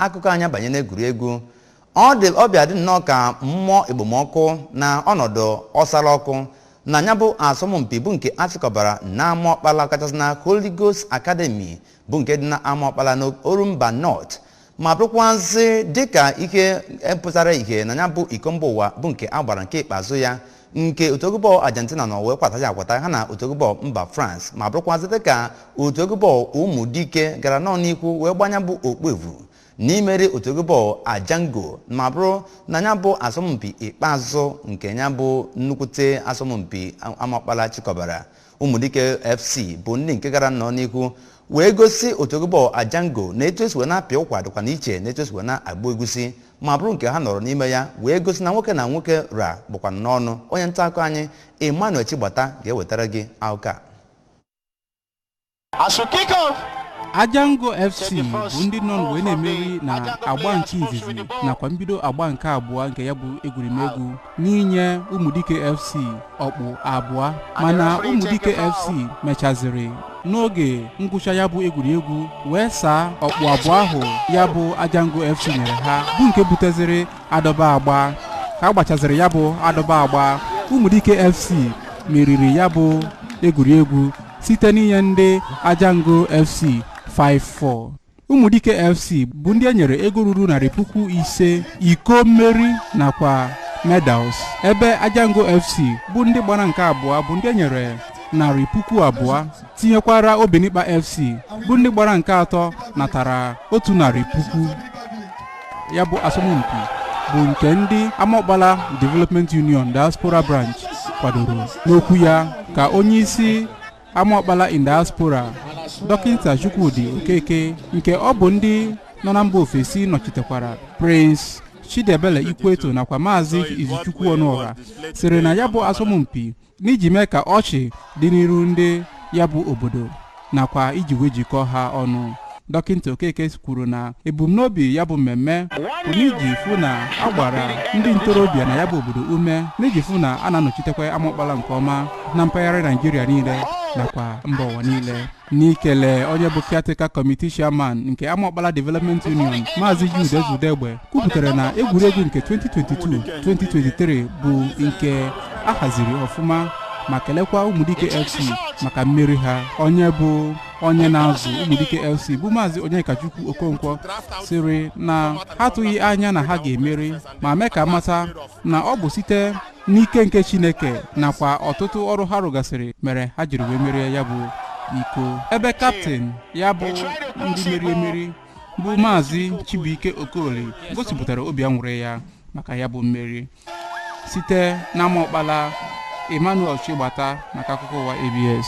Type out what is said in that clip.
akụkọ anyị abanye n'egwuregwu ọ dị ọ bịa dị nnọọ ka mmụọ ekpomọkụ na ọnọdụ ọsara ọkụ na nya bụ asọmpi bụ nke a chịkọbara n'Amaokpala kachasị na Holy Ghost Academy bụ nke dị n'Amaokpala n'Orumba North ma bụrụkwazị dịka ihe pụtara ihe na nya bụ iko mba ụwa bụ nke a gbara nke ikpeazụ ya nke otu egwu bọọlụ Argentina nọ wee kwataghị akwata ha na otu egwu bọọlụ mba France ma bụrụkwazị dịka otu egwu bọọlụ Ụmụdike gara nnọọ n'ihu wee gbaa nya bụ okpu evu n'imeri otu egwu bọọlụ Ajango ma bụrụ na nya bụ asọmpi ikpeazụ nke nya bụ nnukwute asọmpi Amaokpala chịkọbara ụmụdike fc bụ ndị nke gara nnọọ n'ihu wee gosi otu egwu bọọlụ ajango na etu e si wee na-apịa ụkwa dịkwanụ iche na etu e si wee na-agba egusi ma bụrụ nke ha nọrọ n'ime ya wee gosi na nwoke na nwoke ra bụkwa n'ọnụ onye nta akụkọ anyị emmanuel chigbata ga-ewetara gị akụkọ a Ajango FC bụ ndị nọ wee na-emeri na agba nke izizi nakwa mbido agba nke abụọ nke ya bụ egwuregwu n'inye Ụmụdike FC ọkpụ abụọ mana Ụmụdike FC mechaziri n'oge ngwụcha ya bụ egwuregwu wee saa ọkpụ abụọ ahụ ya bụ Ajango FC nyere ha bụ nke buteziri adọba agba ka a gbachaziri ya bụ adọba agba Ụmụdike FC meriri ya bụ egwuregwu site n'inye ndị Ajango FC 5-4 Ụmụdike FC bụ ndị e nyere ego ruru narị puku ise iko mmeri nakwa medals ebe Ajango FC bụ ndị gbara nke abụọ bụ ndị e nyere narị puku abụọ tinyekwara Obinikpa FC bụ ndị gbara nke atọ natara otu narị puku ya bụ asọmpi bụ nke ndị Amaokpala Development Union Diaspora Branch kwadoro n'okwu ya ka onye isi Amaokpala in Diaspora dọkịta Chukwudi Okeke nke ọ bụ ndị nọ na mba ofesi nọchitekwara Prince Chidiebele Ikweto nakwa Maazị Izuchukwu Ọnụọra sịrị na ya bụ asọmpi n'iji mee ka ọchị dị n'iru ndị ya bụ obodo nakwa iji wee jikọọ ha ọnụ dọkịta okeke kwuru na ebumnobi ya bụ mmemme bụ n'iji fụ na a gbara ndị ntorobịa na ya bụ obodo ume n'iji fụ na a na-anọchitekwa amaokpala nke ọma na mpaghara naịjirịa niile nakwa mba ụwa niile n'ikele onye bụ caretaker committee chairman nke Amaokpala Development Union Maazị Jude Ezudegbe kwupụtara na egwuregwu nke 2022-2023 bụ nke a haziri ọfụma ma kelekwa Ụmụdike FC maka mmeri ha onye bụ onye na-azụ Ụmụdike FC bụ Maazị Onyekachukwu Okonkwo sịrị na ha atụghị anya na ha ga-emeri ma mee ka a mata na ọ bụ site n'ike nke chineke nakwa ọtụtụ ọrụ ha rụgasịrị mere ha jiri wee merie ya bụ iko ebe kaptịn ya bụ ndị meri emeri bụ maazị chibuike okoli gosipụtara obi anwụrị ya maka ya bụ mmeri site n'amaokpala emmanuel chigbata maka akụkọ ụwa abs